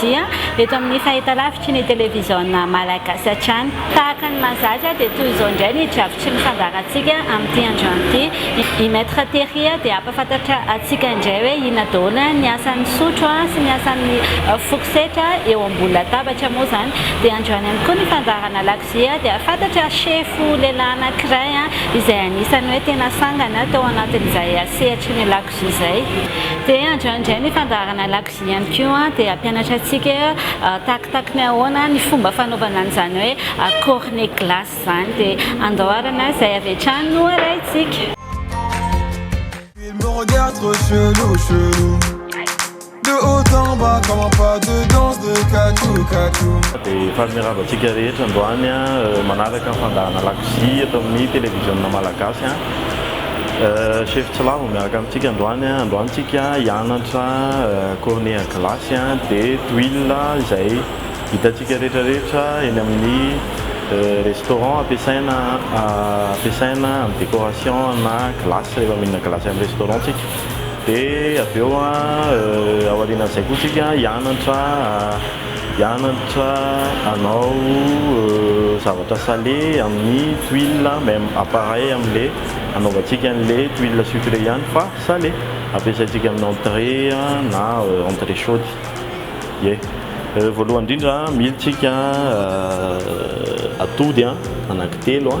dia eto amin'ny fahitalavitry ny televiziona malagasy hatrany. Tahaka ny mahazatra dia toy izao indray ny drafitry ny fandaharantsika amin'ity androany ity. I Maître Terry dia hampafantatra antsika indray hoe inona daholo ny asan'ny sotro sy ny asan'ny fourchette eo ambony latabatra moa izany. Dia androany ihany koa ny fandaharana lakozia dia fantatra sefo lehilahy anankiray izay anisan'ny hoe tena sangany tao anatin'izay sehatry ny lakozia izay. Dia androany indray ny fandaharana lakozia. Izy ihany koa dia hampianatra antsika takitaky ny ahoana ny fomba fanaovana an'izany hoe cornet glace izany dia andoharana izay avy hatrany no arahintsika. Efa mirava antsika rehetra androany manaraka ny fandahana lakozia eto amin'ny televiziona malagasy. Chef Tsilavo miaraka amintsika androany a, androany tsika hianatra cornet à glace a de tuiles izay hitantsika rehetra rehetra eny amin'ny restaurant ampiasaina ampiasaina amin'ny décoration na glace rehefa mihinana glace amin'ny restaurant tsika de avy eo a aorianan'izay koa tsika hianatra Hianatra hanao zavatra sale amin'ny tuiles même appareil amle hanaovantsika anle tuiles sucre ihany fa sale ampiasaintsika amin'ny entrée na entrée chaude ie. Voalohany indrindra mily tsika atody anankitelo.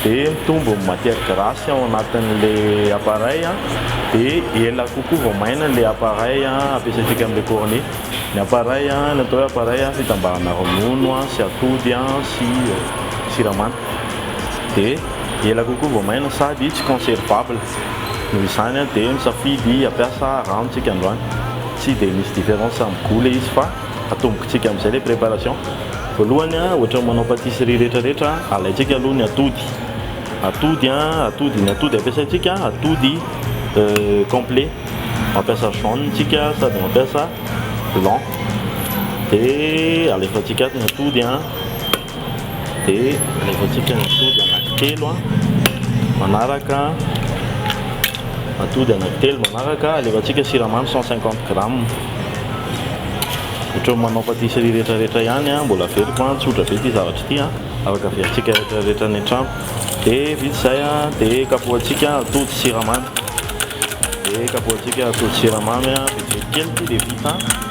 dia mitombo ny matière grasse ao anatin'ilay appareil dia ela kokoa vao maina ilay appareil ampiasaintsika amin'ilay cornet. Ny appareil ny atao hoe appareil fitambarana ronono sy atody sy siramamy dia ela kokoa vao maina sady tsy conservable noho izany dia misafidy hampiasa rano isika androany tsy dia misy différence amin'ny gout ilay izy fa Atombontsika amin'izay ilay préparation. Voalohany, ohatran'ny manao pâtisserie rehetrarehetra, alaintsika aloha ny atody. Atody, atody, ny atody ampiasaintsika, atody complet. Mampiasa jaune tsika sady mampiasa blanc. Dia alefantsika ato ny atody. Dia alefantsika ny atody anankitelo a, manaraka atody anankitelo manaraka, alefantsika siramamy 150 grammes. Ohatran'ny manao pâtisserie rehetrarehetra ihany a, mbola averiko a, tsotra be ity zavatra ity a, afaka averintsika rehetrarehetra any an-trano. Dia vita izay a, dia kapohantsika atody sy siramamy, dia kapohantsika atody sy siramamy a, vitsivitsy kely ity dia vita.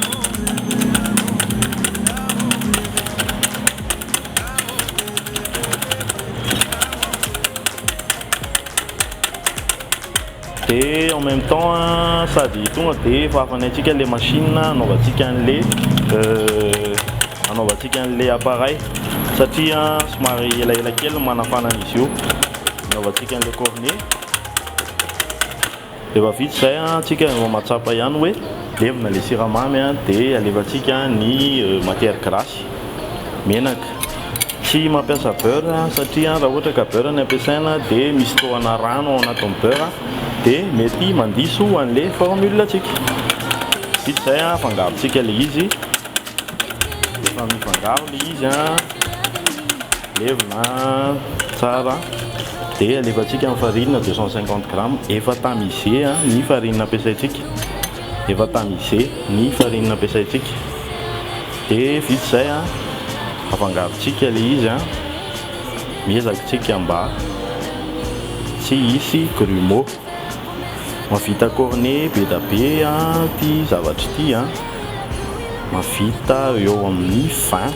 dia en même temps sady tonga dia efa hafanay antsika le machine anaovantsika an'le anaovantsika an'le appareil satria somary elaela kely ny manafana an'izy io anaovantsika an'le cornet Efa vita izay an, antsika no mahatsapa ihany hoe levona ilay siramamy an, dia alefantsika ny matière grasse, menaka. Tsy mampiasa beurre satria raha ohatra ka beurre no ampiasaina dia misy tohana rano ao anatin'ny beurre dia mety mandiso an'ilay formule antsika. Vita izay an, afangarontsika ilay izy, rehefa mifangaro ilay izy an. Levona tsara dia alefantsika ny farine deux cent cinquante grammes. Efa tamisé ny farine ampiasaintsika, efa tamisé ny farine ampiasaintsika. Dia vita izay afangarontsika ilay izy, miezaka tsika mba tsy hisy grumeaux. Mahavita cornet be dia be ity zavatra ity, mahavita eo amin'ny vingt.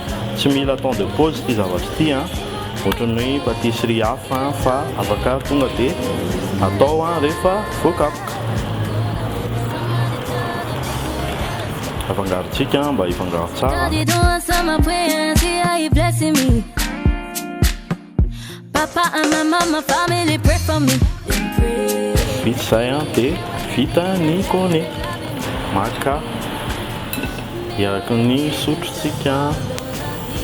Tsy mila temps de pause ity zavatra ity an! Ohatran'ny hoe patisserie hafa an! Fa afaka tonga dia atao an! Rehefa voakapoka. Afangarontsika an! Mba hifangaro tsara. Vita izay an dia vita ny gone. Maka eraky ny sotrotsika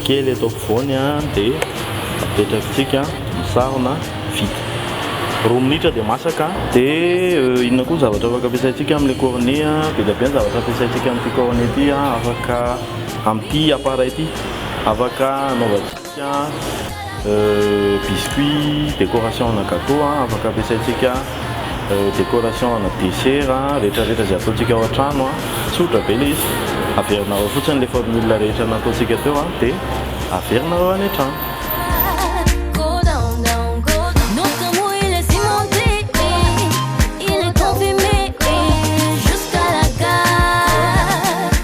kely eto ampovoany dia apetrakitsika misarona vita. Roa minitra dia masaka. Dia inona koa ny zavatra afaka ampiasaintsika amin'ilay cornet an? Be dia be ny zavatra ampiasaintsika amin'ity cornet ity an, afaka amin'ity appareil ity afaka anaovantsika. Tiens, biscuits, décoration ana gateau a, afaka ampiasaintsika décoration ana dessert a, rehetra rehetra izay ataontsika ao an-trano a, tsotra be ilay izy, averina ao fotsiny ilay formule rehetra nataontsika teo a, dia averina ao any an-trano.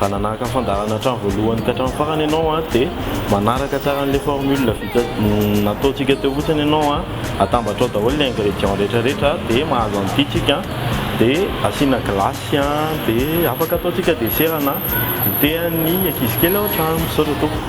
Raha nanaraka fandaharana hatramin'ny voalohany ka hatramin'ny farany ianao dia manaraka tsara an'ilay formule vita nataontsika teo fotsiny ianao, atambatrao daholo ny ingrédients rehetrarehetra dia mahazo an'ity tsika dia asiana glace dia afaka ataontsika dessert na goûter an'ny ankizy kely ao an-trano. Misaotra tompoko.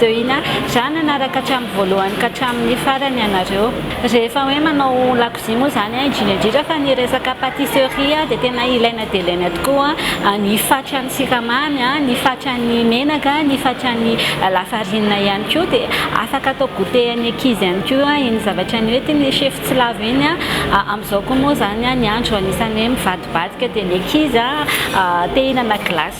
Deuina, za nanaraka hatramin'ny voalohany ka hatramin'ny farany ianareo. Rehefa hoe manao lakozia moa izany an, indrindra indrindra fa ny resaka patisserie an dia tena ilaina dia ilaina tokoa ny fatran'ny siramamy an, ny fatran'ny menaka, ny fatran'ny lafarinina ihany koa dia afaka atao goûter an'ny ankizy ihany koa iny zavatra nentin'ny sefo tsy lavo iny an. Amin'izao koa moa izany an, ny andro anisan'ny hoe mivadibadika dia ny ankizy an te-hihinana glace.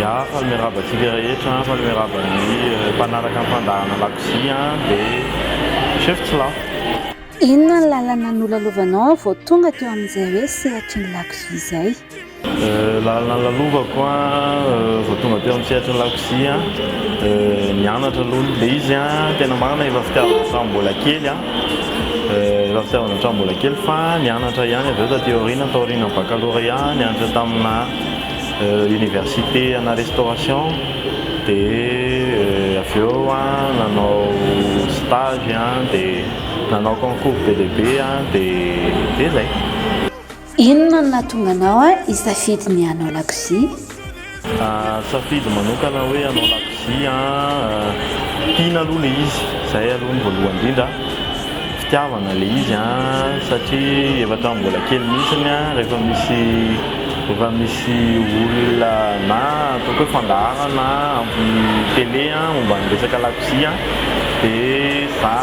Ya faly miarahaba antsika rehetra faly miarahaba ny mpanaraka ny fandaharana lakozia de chef tsy lafo. Inona ny lalana nolalovanao vao tonga teo amin'izay hoe sehatry ny lakozia izay? Lalana nilalovako vao tonga teo amin'ny sehatry ny lakozia, nianatra aloha, ilay izy tena marina efa fitiavana hatramin'ny mbola kely an, efa fitiavana hatramin'ny mbola kely fa nianatra ihany avy eo taty aoriana, taorian'ny baccalauréat nianatra tamina. Université ana restauration de avy eo nanao stage de nanao concours be dia be de de zay. Inona no nahatonga anao hisafidy ny hanao lakozia? Safidy manokana hoe hanao lakozia. satria tiana aloha ilay izy, izay aloha ny voalohany indrindra, fitiavana ilay izy an, satria efa hatramin'ny mbola kely mihitsy rehefa misy rehefa misy olona na ataoko hoe fandaharana amin'ny télé momba ny resaka lakozia dia za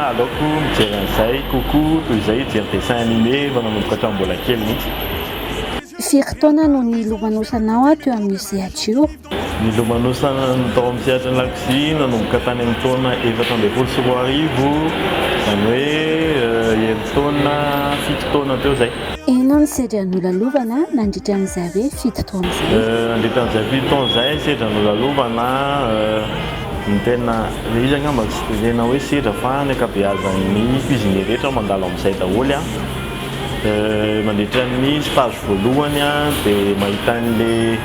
aleoko mijery an'izay kokoa toy izay hijery dessin animé efa nanomboka hatramin'ny mbola kely mihitsy. Firy taona no nilomanosanao teo amin'io sehatra io? Ny lomanosan'ny tao amin'ny sehatry ny lakozia nanomboka tany amin'ny taona efatra ambin'ny folo sy roa arivo, izany hoe herintaona fito taona teo izay. Inona no sedra nolalovana nandritra an'izay hoe fito taona izay? Nandritra an'izay fito taona izay, ny sedra nolalovana, ny tena, ilay izy angamba tsy dia tena hoe sedra fa ny ankabeazan'ny cuisiniers rehetra mandalo amin'izay daholo an. Mandritra ny stage voalohany dia mahita an'ilay.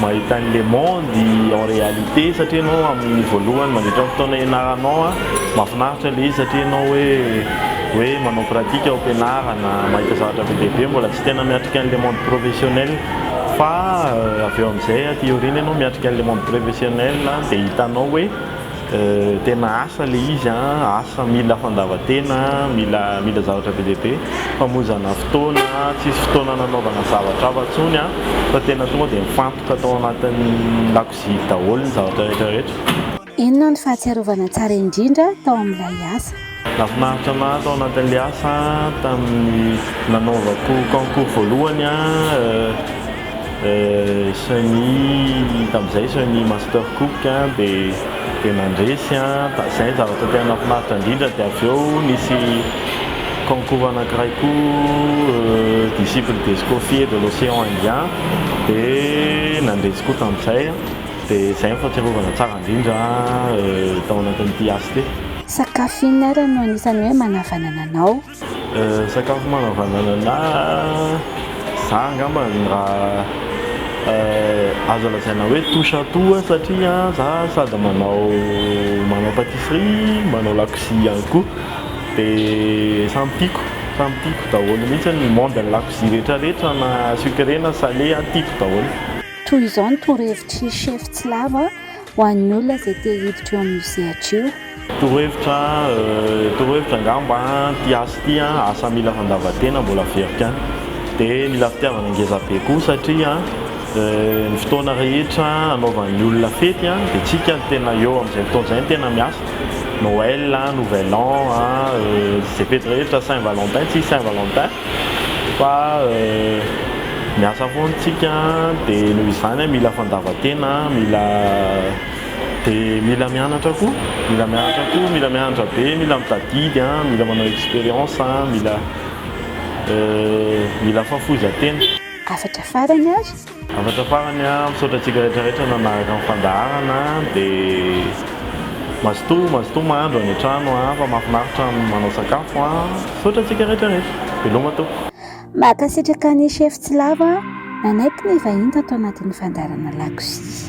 Mahita ny le monde en réalité satria enao amin'ny voalohany mandritra ny fotoana hianaranao a, mahafinaritra le izy satria enao hoe hoe manao pratique ao am-pianarana, mahita zavatra be dia be, mbola tsy tena miatrika ny le monde professionnel fa avy eo amin'izay a, aty aoriana enao miatrika ny le monde professionnel dia hitanao hoe. Tena asa le izy an, asa mila fandavan-tena, mila mila zavatra be dia be, famonjana fotoana, tsisy fotoana nanaovana zavatra hafa intsony an, fa tena tonga dia mifantoka tao anatin'ny lakozia daholo ny zavatra rehetra rehetra. Inona no fahatsiarovana tsara indrindra tao amin'ilay asa? Nafinaritra anah tao anatin'ilay asa tamin'ny nanaovako concours voalohany semi tamin'izay semi master cook dia nandresy izay ny zavatra tena nafinaritra indrindra dia avy eo nisy concours anakiray koa disciple des cofiers de l'océan indien dia nandresy koa tamin'izay dia izay no fahatsiarovana tsara indrindra tao anatin'ity asa ity. Sakafo inona ary no anisan'ny hoe manavanana anao? Sakafo manavanana anahy, za angamba raha azo lazaina hoe touche à tout aho satria za sady manao manao patisserie, manao lakozia ihany koa dia samy tiako, samy tiako daholo mihitsy ny monde-n'ny lakozia rehetrarehetra na sucré na salé aho tiako daholo. Toy izao ny torohevitr'i Chef Tsilavo a! Ho an'ny olona izay te hiditra io amin'ny sehatra io. Torohevitra torohevitra angamba ity asa ity an, asa mila fandavan-tena mbola very kany, dia mila fitiavana ngeza be koa satria ny fotoana rehetra anaovan'ny olona fety an, dia tsika no tena eo amin'izay fotoana izay no tena miasa, Noël, nouvel an, izay fety rehetra, Saint Valentin, tsisy Saint Valentin. Fa miasa foana isika dia noho izany mila fandavan-tena, mila dia mila mianatra koa, mila mianatra koa, mila mianatra be, mila mitadidy, mila manao expérience, mila mila fahafoizan-tena. Hafatra farany ary. Hafatra farany a, misaotra antsika rehetra rehetra nanaraka ny fandaharana de mazotoa mazotoa mahandro any an-trano a, fa mahafinaritra ny manao sakafo a, misaotra antsika rehetra rehetra, veloma tompoko. Mankasitraka an'i Chef Tsilavo a, nanaiky ny hivahiny tato anatin'ny fandaharana lakozia.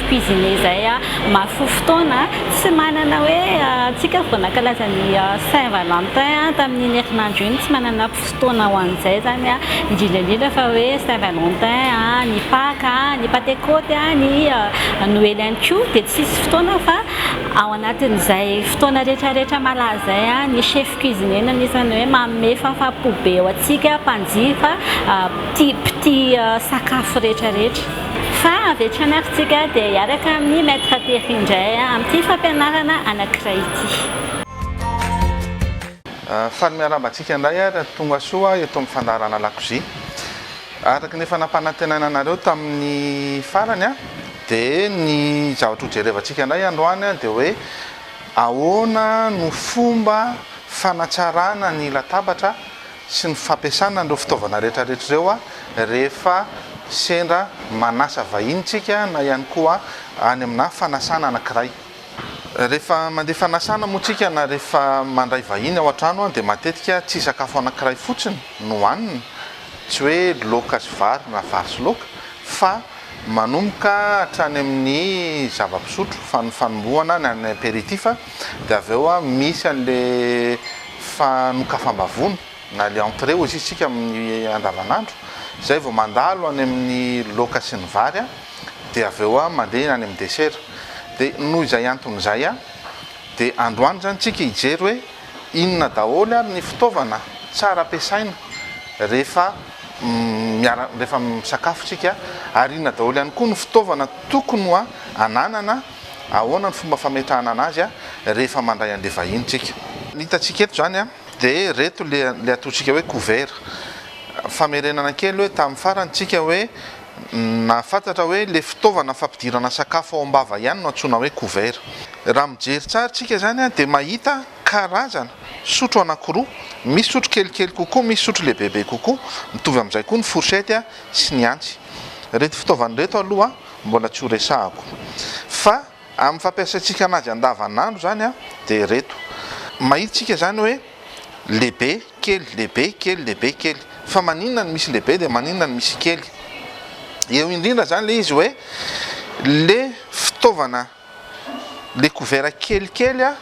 cuisiner zay a maro fo fotoana tsy manana hoe antsika vao nankalaza ny saint valentin a tamin'iny herinandro iny tsy manana fotoana ho an'izay zany a indrindra indrindra fa hoe saint valentin a ny paka a ny patekôty a ny noely ihany ko dia tsisy fotoana fa ao anatin'izay fotoana rehetra rehetra malaza zay a ny chef cuisiner no anisany hoe manome fahafaha-po be ho antsika mpanjifa tia mpitia sakafo rehetra rehetra Fa avy hatrany ary tsika dia hiaraka amin'ny Maître Thierry indray amin'ity fampianarana anankiray ity. Faly miarahaba antsika indray ary ary tonga soa eto amin'ny fandaharana lakozia. Araka ny efa nampanantenaina anareo tamin'ny farany dia ny zavatra ho jerevantsika indray androany dia hoe ahoana no fomba fanatsarana ny latabatra sy ny fampiasana an'ireo fitaovana rehetrarehetra ireo rehefa sendra manasa vahiny isika na ihany koa any amina fanasana anankiray. Rehefa mandeha fanasana moa isika na rehefa mandray vahiny ao an-trano dia matetika tsy sakafo anankiray fotsiny no hanina, tsy hoe laoka sy vary na vary sy laoka fa manomboka hatrany amin'ny zava-pisotro, fanombohana ny apéritif, dia avy eo misy an'le fanokafam-bavony na le entrée hoy isika amin'ny andavanandro, izay vao mandalo any amin'ny laoka sy ny vary dia avy eo mandeha any amin'ny desera, dia noho izay antony izay dia androany izany tsika hijery hoe inona daholo ary ny fitaovana tsara ampiasaina rehefa miara rehefa misakafo tsika ary inona daholo ihany koa ny fitaovana tokony ho ananana Ahoana ny fomba fametrahana anazy rehefa mandray an'ilay vahiny tsika. Ny hitantsika eto izany dia ireto ilay ataontsika hoe couvert. Famerenana kely hoe tamin'ny farany tsika hoe nahafantatra hoe ilay fitaovana fampidirana sakafo ao am-bava ihany no antsoina hoe couvert. Raha mijery tsara tsika izany dia mahita karazana sotro anankiroa, misy sotro kelikely kokoa, misy sotro lehibebe kokoa, mitovy amin'izay koa ny fourchette sy ny antsy. Ireto fitaovana ireto aloha. mbola tsy ho resahako. Fa amin'ny fampiasaintsika anazy andavanandro izany dia ireto. Mahita isika izany hoe lehibe, kely, lehibe, kely, lehibe, kely. Fa maninona no misy lehibe dia maninona no misy kely? Eo indrindra izany ilay izy hoe ilay fitaovana. le couvert kelikely a,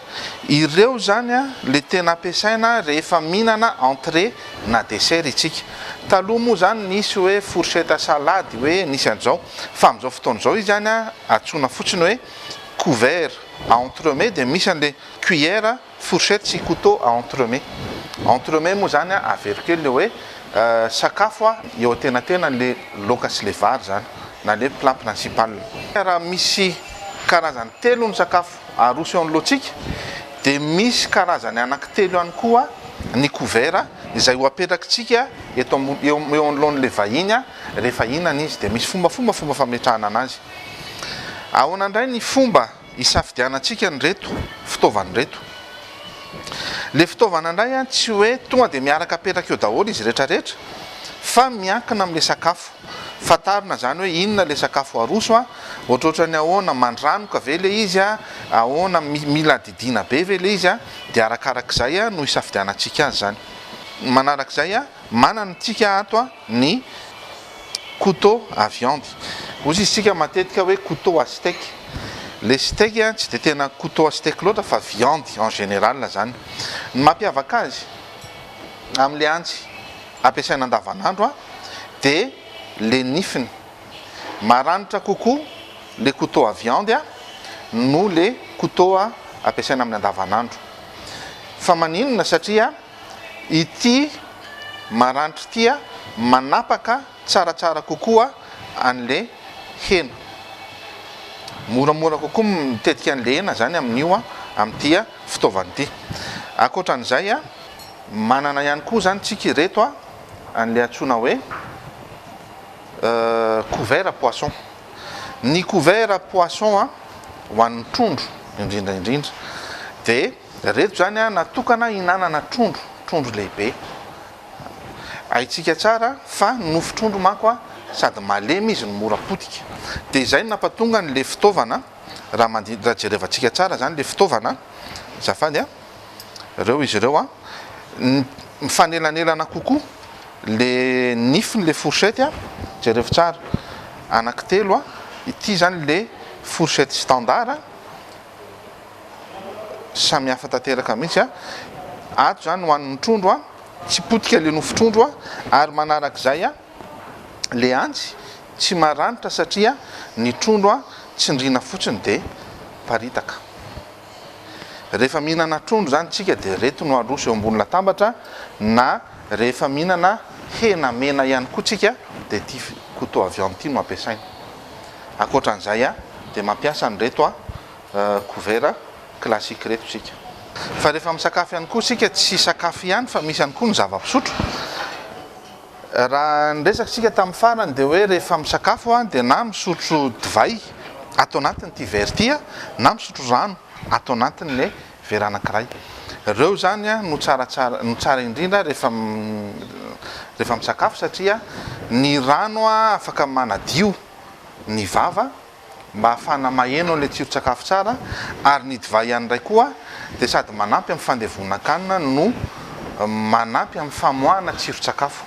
ireo zany a le tena ampiasaina rehefa mihinana entrée na dessert itsika. Taloha moa zany nisy hoe fourchette à salade hoe nisy an'izao fa amin'izao fotoana izao izy zany a antsoina fotsiny hoe couvert, à entremets dia misy an'le cuillère. Fourchette sy couteau à entremets. Entremets moa izany an, avero kely ilay hoe sakafo an, eo antenatenan'ilay laoka sy ilay vary izany, na ilay hoe plat principal. Raha misy karazany telo ny sakafo aroso eo anoloantsika, dia misy karazany anankitelo ihany koa ny couvert izay ho apetrakintsika eto ambony, eo anoloan'ilay vahiny an, rehefa hihinana izy. Dia misy fombafomba fomba fametrahana anazy. Ahoana indray ny fomba Isafidianantsika an'ireto fitaovana ireto. Ilay fitaovana indray tsy hoe tonga dia miaraka apetraka eo daholo izy rehetrarehetra fa miankina amin'ilay sakafo. Fantarina izany hoe inona ilay sakafo aroso, ohatrohatry ny ahoana, mandranoka ve ilay izy, ahoana, mila didiana be ve ilay izy, dia arakarak'izay no isafidianantsika azy izany. Manarak'izay, manana antsika ato. ny couteau à viande. Hozy isika matetika hoe couteau à steak. Le steak tsy dia tena couteau à steak loatra fa viande en général zany. Ny mampiavaka azy amin'ilay antsy ampiasaina andavanandro dia le nifiny. Maranitra kokoa le couteau à viande noho le couteau ampiasaina amin'ny andavanandro. Fa maninona? Satria. Ity maranitra ity manapaka tsaratsara kokoa an'le hena. Moramora kokoa ny mitetika an'le hena zany amin'io amin'ity fitaovana ity. Ankoatran'izay manana ihany koa zany tsika ireto an'le antsoina hoe couvert poisson. Ny couvert poisson ho an'ny trondro indrindra indrindra de. Ireto izany natokana hihinanana trondro, trondro lehibe. Haintsika tsara fa ny nofon-trondro manko sady malemy izy no mora potika. Dia izay no nampatonga an'ilay fitaovana, raha jerevantsika tsara izany ilay fitaovana, azafady a, ireo izy ireo a, mifanelanelana kokoa ilay nifin'ilay fourchette a, jerevo tsara, anankitelo a, ity izany ilay fourchette standard, Samy hafa tanteraka mihitsy a! Ato izany hohanin'ny trondro a! Tsy potika ilay nofon-trondro a! Ary manarak'izay a! Ilay antsy tsy maranitra satria ny trondro a! Tsindriana fotsiny dia paritaka. Rehefa mihinana trondro izany isika dia ireto no aroso eo ambony latambatra na rehefa mihinana hena mena ihany koa isika dia ity couteau avy ao amin'ity no ampiasaina. Ankoatran'izay dia mampiasa an'ireto couvert classique ireto isika. Fa rehefa misakafo ihany koa isika tsy sakafo ihany fa misy ihany koa ny zava-pisotro. Raha niresaka isika tamin'ny farany dia hoe rehefa misakafo dia na misotro divay ato anatin'ity verre ity na misotro rano ato anatin'ilay Vera anankiray. Ireo izany no tsaratsara, no tsara indrindra rehefa rehefa misakafo satria ny rano afaka manadio ny vava mba ahafahana maheno an'ilay tsiron-tsakafo tsara ary ny divay ihany indray koa dia sady manampy amin'ny fandevonan-kanina no manampy amin'ny famoahana tsiron-tsakafo.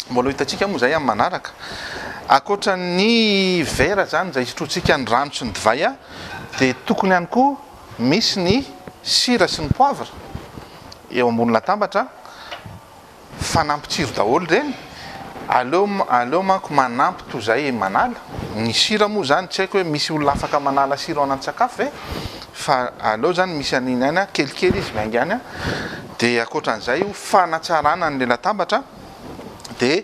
Mbola ho hitantsika moa izay amin'ny manaraka. Ankoatra ny vera izany izay isotroantsika ny rano sy ny divay dia tokony ihany koa Misy ny sira sy ny poivre eo ambony latabatra fa nampitsiry daholo ireny, aleo aleo manko manampy toy izay manala, ny sira moa izany tsy haiko hoe misy olona afaka manala sira ao anaty sakafo ve? fa aleo izany misy an'iny ihany an, kelikely izy miainga any an, dia ankoatra an'izay io fanatsarana an'ilay latabatra dia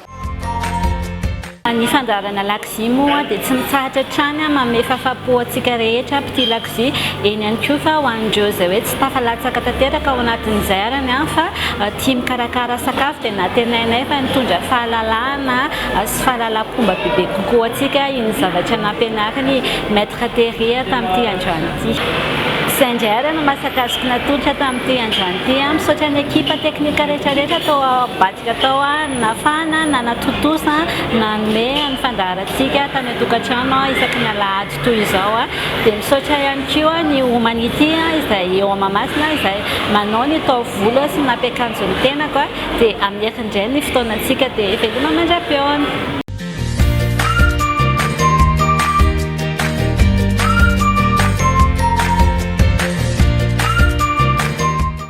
Ny fandaharana lakozia moa dia tsy mitsahatra hatrany manome fahafahampo antsika rehetra mpitia lakozia, eny ihany koa fa ho an'ireo izay hoe tsy tafalatsaka tanteraka ao anatin'izay arany fa tia mikarakara sakafo dia nantenainay fa nitondra fahalalahana sy fahalalam-pomba bebe kokoa ho antsika iny zavatra nampianarin'i Maître Terry tamin'ity androany ity. Izay indray ary no maha sakazoko natolotra tamin'ity androany ity. Misaotra ny ekipa teknika rehetra rehetra tao Bat Atao nafana na natontosa nanome ny fandaharantsika tany an-tokantrano isaky ny alahady toy izao. Dia misaotra ihany koa ny Humanity izay eo amin'ny Mahamasina izay manao ny taovolo sy ny nampiakanjo ny tenako dia hamery indray ny fotoanantsika dia veloma mandra-peona.